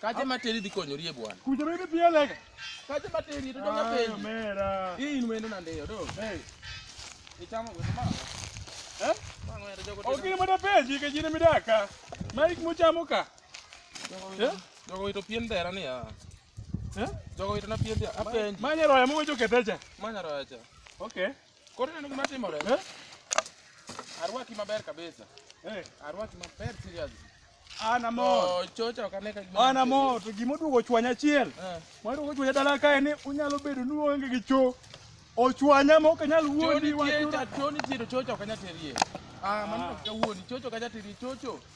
Kaje materi dhi konyori e bwana. Kuja mimi pia lega. Kaje materi to donga pei. Ah, mera. Hii ni mwendo na ndio do. Hey. Ichamo kwa mama. Eh? Mama ndio jogo. Okini mwenda peji ke jini midaka. Mike muchamuka. Eh? Jogo wito pien dera ni ya. Eh? Jogo wito na pien dera. Apenji. Manya roya mwe joketeja. Manya roya cha. Okay. Koro neno gima timore. Eh? Arwaki maber kabisa. Eh, arwaki maber seriously. Ana mo. Oh, chocha okane ka gima. Ana mo to gima oduogo chwanya achiel. Eh. Moro oduogo chwanya dala kae ni unyalo bedo ni onge gi cho. Ochwanya ma ok nyal wuondi wachura. Choni chiro chocha okanya terie. Ah, mano ah. ka wuondi chocho kanya terie chocho.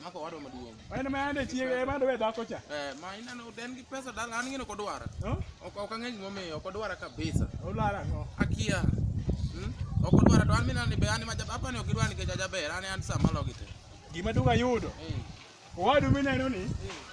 Mako wado maduong'. En ma ande chiege ema ndo dhako cha. Eh, ma ineno den gi pesa dala an ngene kodwara. Ok ok ang'eny momiyo kodwara kabisa. Olara ngo. Akia. Hmm? Ok odwara to an mina ni be an ma jabapa ni ok idwara nikech ajaber an an sama logi te. Gima duga yudo. Eh. Owadu mineno ni. Eh.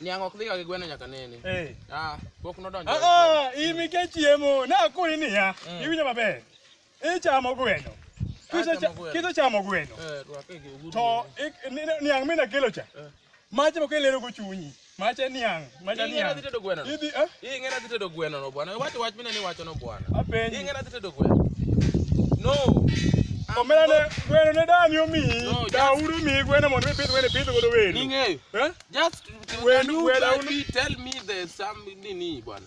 Niang' ok dhiga gi gweno nyaka nene. Eh. Ah, pok nodonjo. Ah, ah, in nikech chiemo, nakoni niya, mm. iwinjo maber. Ichamo gweno. Kisechamo gweno. Eh, to niang' mina kelo cha. Eh. Mache moko ilero go chunyi. Mache niang'. Manyanya. Idhi tedo gweno. Idhi eh? Idhi ng'era dhi tedo gweno no bwana. Wacho wach mine ni wacho no bwana. Idhi ng'era dhi tedo gweno. No. Omera ne gweno ne dani omi. Da uru mi gweno mondo ipidh gweno ipidh godo wenu. Ning'eyo. Eh? Just when you tell me there's some nini bwana.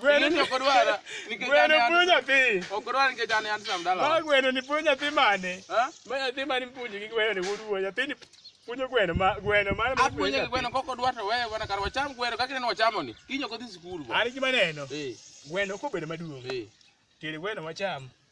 Gweno ni ok odwara. Nikech Gweno an- puonjo nyathi. Ok odwara nikech an an sam dala. Ma gweno ni puonjo nyathi mane? Ha? Ma nyathi mane puonjo gi gweno ni wuod wuo. Nyathi ni puonjo gweno ma gweno mane ma Apuonje gi gweno kok odwar to wewe bana kar wacham gweno kaka ineno wachamo ni. Kinyo kodhi sikul bo. An gima neno. Eh, Gweno kobedo maduong'. eh. Tere gweno wacham.